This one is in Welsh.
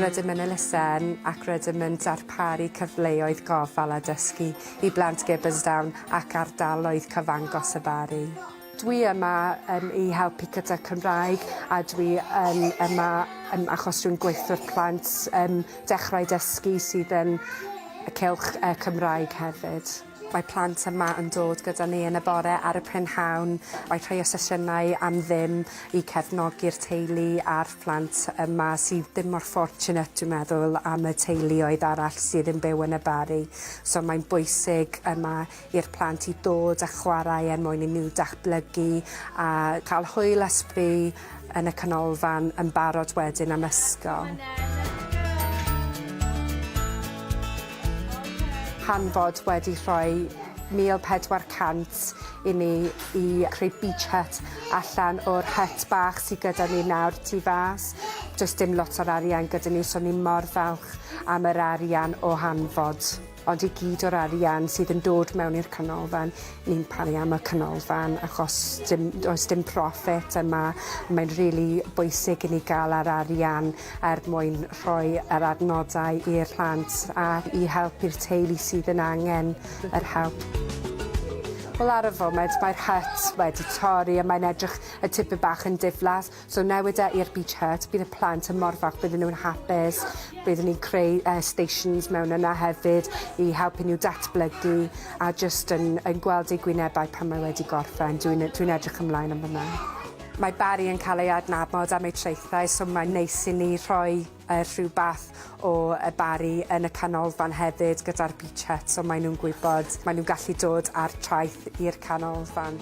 Rydym yn elusen ac rydym yn darparu cyfleoedd gofal a dysgu i blant Gibbonsdown ac ardaloedd cyfangos y Barri. Dwi yma um, i helpu gyda Cymraeg a dwi yn yma um, achos dwi'n gweithio'r plant um, dechrau dysgu sydd yn y cylch uh, Cymraeg hefyd. Mae plant yma yn dod gyda ni yn y bore ar y prynhawn mae rhai o sesiynau am ddim i cefnogi'r teulu a'r plant yma sydd ddim mor fortunate dwi'n meddwl am y teuluoedd arall sydd yn byw yn y Barri so mae'n bwysig yma i'r plant i dod a chwarae er mwyn i nhw datblygu a cael hwyl a sbri yn y canolfan yn barod wedyn am ysgol. hanfod wedi rhoi 1400 i ni i creu beach hut allan o'r hut bach sydd gyda ni nawr tu fas. Does dim lot o'r arian gyda ni, so ni mor falch am yr arian o hanfod. Ond i gyd o'r arian sydd yn dod mewn i'r canolfan, ni'n paru am y canolfan achos dim, does dim profit yma. Mae'n rili really bwysig i ni gael yr arian er mwyn rhoi yr adnoddau i'r plant a i help i'r teulu sydd yn angen yr help. Wel ar y foment mae'r hut wedi torri a mae'n edrych y tipyn bach yn diflas So newid e i'r beach hut, bydd y plant yn mor falch, bydden nhw'n hapus, byddwn ni'n creu uh, stations mewn yna hefyd i helpu nhw datblygu a just yn, yn gweld eu gwynebau pan mae wedi gorffen. Dwi'n dwi edrych ymlaen am hwnna. Mae Barry yn cael ei adnabod am ei traethau, so mae'n neis i ni rhoi Yy rhywbeth o y Barri yn y canolfan hefyd gyda'r beachette so mae nhw'n gwybod mae nhw'n gallu dod ar traeth i'r canolfan.